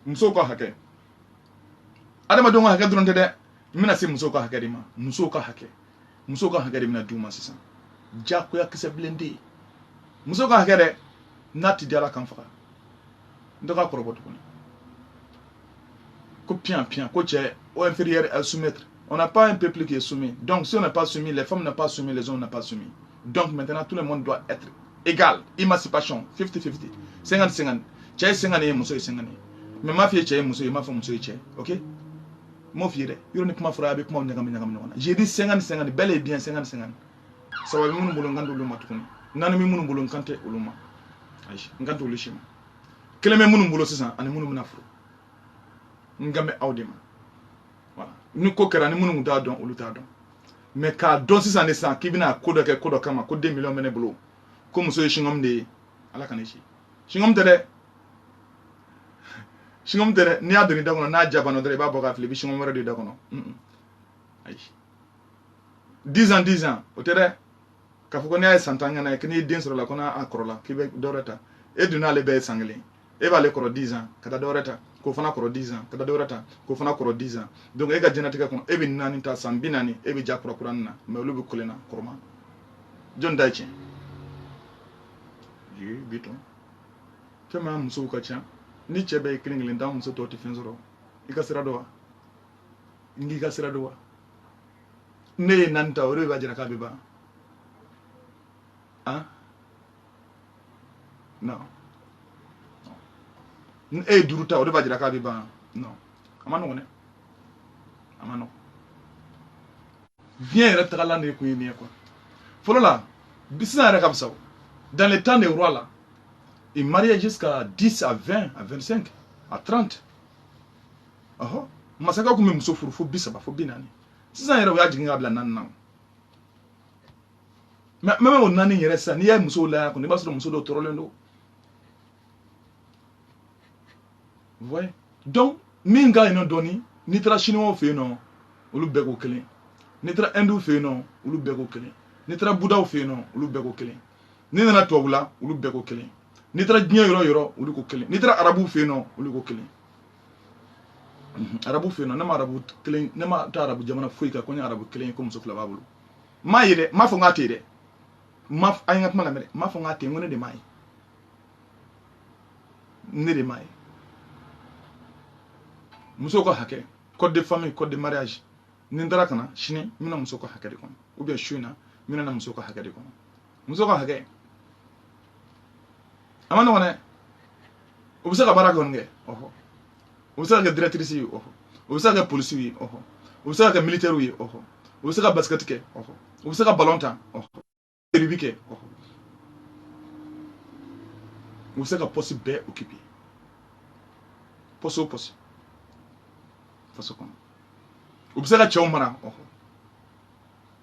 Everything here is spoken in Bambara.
musow ka hakɛ adamadenw ka hakɛ dɔrɔn tɛ dɛ n bɛna se musow ka hakɛ de ma musow ka hakɛ musow ka hakɛ de bɛna d'u ma sisan jagoya kisɛ bilen tɛ yen musow ka hakɛ dɛ n'a ti di ala ka n faga n tɛ ka kɔrɔbɔ tuguni ko piyan piyan ko cɛ o inférieur et soumettre On n'a pas un peuple qui est soumis. Donc, si on n'a pas soumis, les femmes n'ont pas soumis, les hommes n'ont pas soumis. Donc, maintenant, tout le monde doit être égal. Émancipation, 50-50. 50-50. Cɛ ye 50 ye muso ye 50 ye mais m'a f'i ye cɛ ye muso ye m'a fɔ muso ye cɛ ye ok n m'o f'i ye dɛ yɔrɔ ni kuma fɔra a bɛ kumaw ɲagami ɲagami ɲɔgɔn na j'ai dit 50-50 bel et bien 50-50 saba bɛ minnu bolo n kan t'olu ma tuguni naani bɛ minnu bolo n kan tɛ olu ma ayi n kan t'olu si ma kelen bɛ minnu bolo sisan ani minnu bɛna furu n kan bɛ aw de ma ni ko kɛra ni minnu t'a dɔn olu t'a dɔn mais k'a dɔn sisan de sisan k'i bɛna ko dɔ kɛ ko dɔ kama ko deux millions bɛ ne bolo ko muso ye singɔm de ye ala k'an kisi singɔm tɛ dɛ singɔm tɛ dɛ n'i y'a don i da kɔnɔ n'a ja banna dɔrɔn i b'a bɔ k'a fili i bɛ singɔm wɛrɛ don i da kɔnɔ ayi dix ans dix ans o tɛ dɛ k'a fɔ ko n'a ye san tan kɛ n'a ye k'i n'i den sɔrɔ la ko n'a a kɔrɔla k'i bɛ dɔ wɛrɛ ta e dun n'ale bɛɛ ye san kelen e b'ale kɔrɔ dix ans ka taa dɔ wɛrɛ ta k'o fana kɔrɔ dix ans ka taa dɔ wɛrɛ ta k'o fana kɔrɔ dix ans donc e ka diɲɛnatigɛ kɔnɔ e bɛ naani ta san bi naani e bɛ ja kura kuranin na mais olu bɛ kelen na kɔrɔman jɔni ta ye tiɲɛ ye bi tɔn tellement musow ka ca ni cɛ bɛɛ ye kelen kelen ta muso tɔw tɛ fɛn sɔrɔ i ka sira don wa n k'i ka sira don wa ne ye naani ta o de b'a jira k'a bɛ ban ah non e ye duuru ta o de b'a jira k'a bɛ ban non a man nɔgɔn dɛ a man nɔgɔn diɲɛ yɛrɛ tagalan de kun ye nin ye quoi fɔlɔ la sisan yɛrɛ ka fisa o dans le temps des rois là ils mariaient jusqu'à 10 à 20 à 25 à 30 ɔhɔ masakɛ tun bɛ muso furu fo bi saba fo bi naani sisan yɛrɛ u y'a jigin k'a bila naani na mais même o naani yɛrɛ sisan n'i y'a ye musow la kɔni i b'a sɔrɔ muso dɔw tɔɔrɔlen don ouais donc min ka yen nɔ dɔɔni n'i taara siniwaw fɛ yen nɔ olu bɛɛ ko kelen n'i taara ɛnduw fɛ yen nɔ olu bɛɛ ko kelen n'i taara budaw fɛ yen nɔ olu bɛɛ ko kelen n'i nana tubabu la olu bɛɛ ko kelen n'i taara diɲɛ yɔrɔ yɔrɔ olu ko kelen n'i taara arabuw fɛ yen nɔ olu ko kelen arabu fɛ yen nɔ ne ma arabu kelen ne ma taa arabu jamana foyi kan ko n ye arabu kelen ye ko muso fila b'a bolo m'a ye dɛ m'a fɔ n k'a tɛ yen dɛ a ye n ka kuma lamɛn dɛ m'a fɔ n k'a tɛ yen n ko ne de m'a ye ne de m'a ye muso ka hakɛ code de famille code de mariage ni n taara ka na sini n bɛna muso ka hakɛ de kɔnɔ ou bien su in na n bɛna na muso ka hakɛ de kɔnɔ muso ka hakɛ a man nɔgɔn dɛ o bɛ se ka baara kɔni kɛ ɔhɔ o bɛ se ka kɛ directrice ye ɔhɔ o bɛ se ka kɛ polisi ye ɔhɔ o bɛ se ka kɛ militaire ye ɔhɔ o bɛ se ka basket kɛ ɔhɔ o bɛ se ka ballon tan ɔhɔ rugby kɛ ɔhɔ o bɛ se ka poste bɛɛ occuper poste o poste faso kɔnɔ o bɛ se ka cɛw mara ɔhɔ